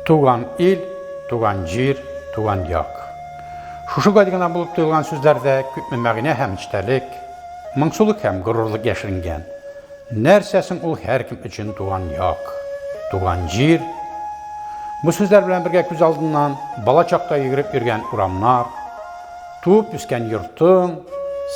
Туган ил, туган җир, туган як. Шушы гел генә булып тоелган сүзләрдә күпме мәгънә һәм эчтәлек, моңсулык һәм горурлык яшеренгән. Нәрсә соң ул һәркем өчен туган як, туган җир? Бу сүзләр белән бергә күз алдыннан бала чакта йөгереп йөргән урамнар, Туып үскән йортың,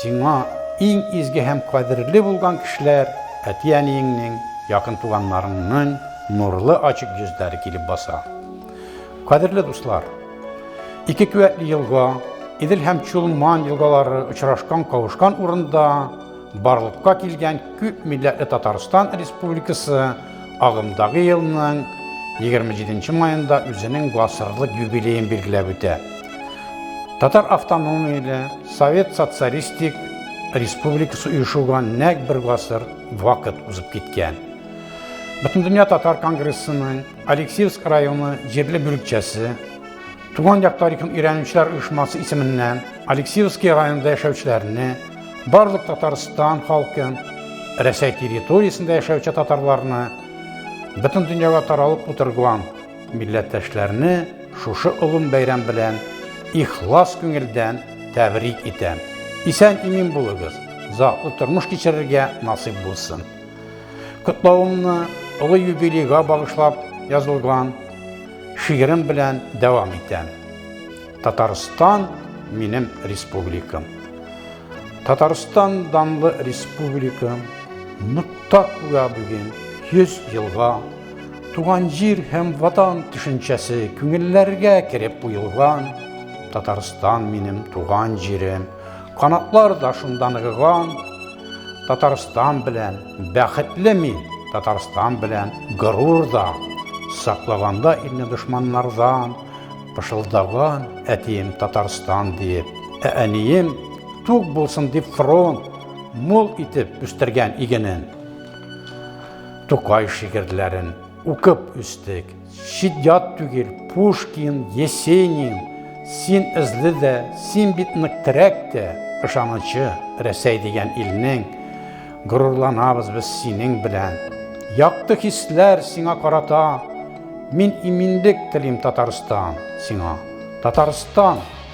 сиңа иң изге һәм кадерле булган кешеләр, әти-әниеңнең, якын туганнарыңның нурлы ачык йөзләре килеп баса. Кадерле дуслар, ике куәтле елга, Идел һәм Чулман елгалары очрашкан-кавышкан урында Барлыкка килгән күп милләтле Татарстан Республикасы агымдагы елның 27 маенда үзенең гасырлык юбилеен билгеләп үтә. Татар автономияле Совет Социалистик Республикасы оешуга нәк бер гасыр вакыт узып киткән. Бөтендөнья татар конгрессының Алексеевск районы җирле бүлекчәсе Туган як тарихын өйрәнүчеләр оешмасы исеменнән Алексеевский районында яшәүчеләрне, барлык Татарстан халкын, Рәсәй территориясендә яшәүче татарларны, бөтен дөньяга таралып утырган милләттәшләрне шушы олым бәйрәм белән ихлас күңелдән тәбрик итәм. Исән имин булыгыз, затлы тормыш кичерергә насыйп булсын. Котлавымны олы юбилейга багышлап язылган Шигырем белән дәвам итәм. Татарстан минем республикам. Татарстан данлы республикам нокта куя бүген 100 елга туган җир һәм ватан төшенчәсе күңелләргә кереп куелган татарстан минем туган җирем канатлар да шунда ныгыган татарстан белән Бәхетле мин Татарстан белән горур да, саклаганда илне дошманнардан, пышылдаган әтием Татарстан диеп, ә әнием тук булсын дип фронт мул итеп үстергән игенен. Тукай шигырьләрен укып үстек. Чит-ят түгел, Пушкин, Есенин, син эзле дә, син бит нык терәк тә, ышанычы, Рәсәй дигән илнең, горурланабыз без синең белән. Якты хисләр сиңа карата, мин иминлек телим Татарстан сиңа. Татарстан!